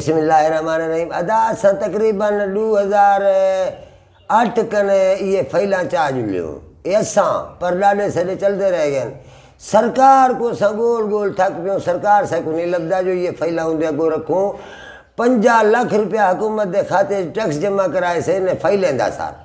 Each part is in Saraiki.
بسم اللہ الرحمن الرحیم ادا اساں تقریبا ڈو ہزار اٹھ کن ایے فائلاں چا جلے ہوں اے اساں پر ڈاڈے سڈے چلدے رہ گئن سرکار کو اساں گول گول تھک پیوں سرکار سا کو نی لبدا جو ایے فائلاں اوندے اگو رکھوں پنجا لکھ روپیہ حکومت دے خاتے اچ ٹیکس جمع کرائے سے انہیں فائلیں دا سارا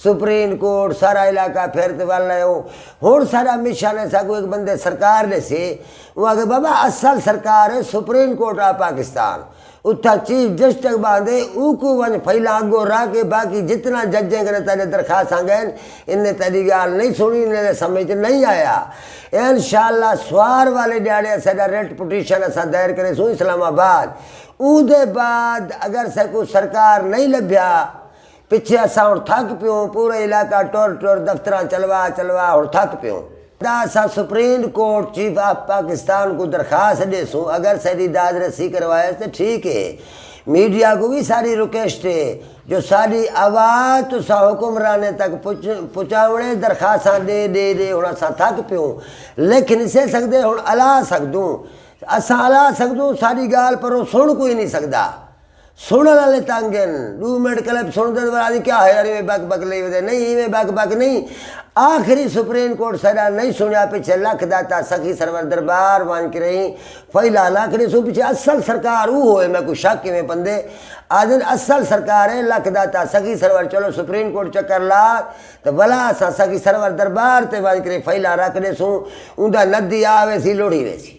سپریم کورٹ سارا علاقہ پھر تے ول لائے او ہن ساڈا مشن ہے ساکوں ہک بندے سرکار ڈیسے او آکھے بابا اصل سرکار ہے سپریم کورٹ آف پاکستان اتھاں چیف جسٹک باندے اوکوں ونج فائلاں اگوں رکھ کے باقی جتنا ججیں کنے تیڈے درخواستاں گئین انہیں تیڈی گال نہیں سنڑی انہیں دے سمجھ چ نہیں آیا انشاءاللہ سوار والے ڈیہاڑے اساڈا ریٹ پٹیشن اساں دائر کریسوں اسلام آباد اودے بعد اگر ساکوں سرکار نہیں لبھیا پچھے اساں ہنڑ تھک پیوں، پورا علاقہ ٹر ٹر دفتراں چلوا چلوا ہنڑ تھک پیوں۔ دا اساں supreme court chief of Pakistan کوں درخواست ڈیسوں اگر ساڈی داد رسی کروائس تے ٹھیک اے۔ میڈیا کوں وی ساڈی رکویسٹ اے جو ساڈی آواز تساں حکمرانیں تک پچاونڑے درخواستاں ڈے ڈے ڈے ہنڑ اساں تھک پیوں لکھ نی سے سگدے ہنڑ الا سگدوں اساں الا سگدوں ساڈی گالھ پرو سنڑ کوئی نی سگدا۔ سنڑن آلے تنگ ہن۔ ڈو منٹ کلپ سنڑدن ورا آدھن کیا ہویا ایویں بک بک لئی ودے نئیں ایویں بک بک نئیں آخری سپرین کورٹ سیڈا نئیں سنڑیا پچھے لکھ داتا سخی سرور دربار ونج کریں فئی لال آکھنڑیں سوں پچھے اصل سرکار اوہو ہے میکوں شک ایویں پندے آدھن اصل سرکار ہے لکھ داتا سخی سرور چلو سپرین کورٹ چکر لا تے ولا اساں سخی سرور دربار تے ونج کریں فئی لال رکھ ڈیسوں اوندا ندی آ ویسی لڑھی ویسی۔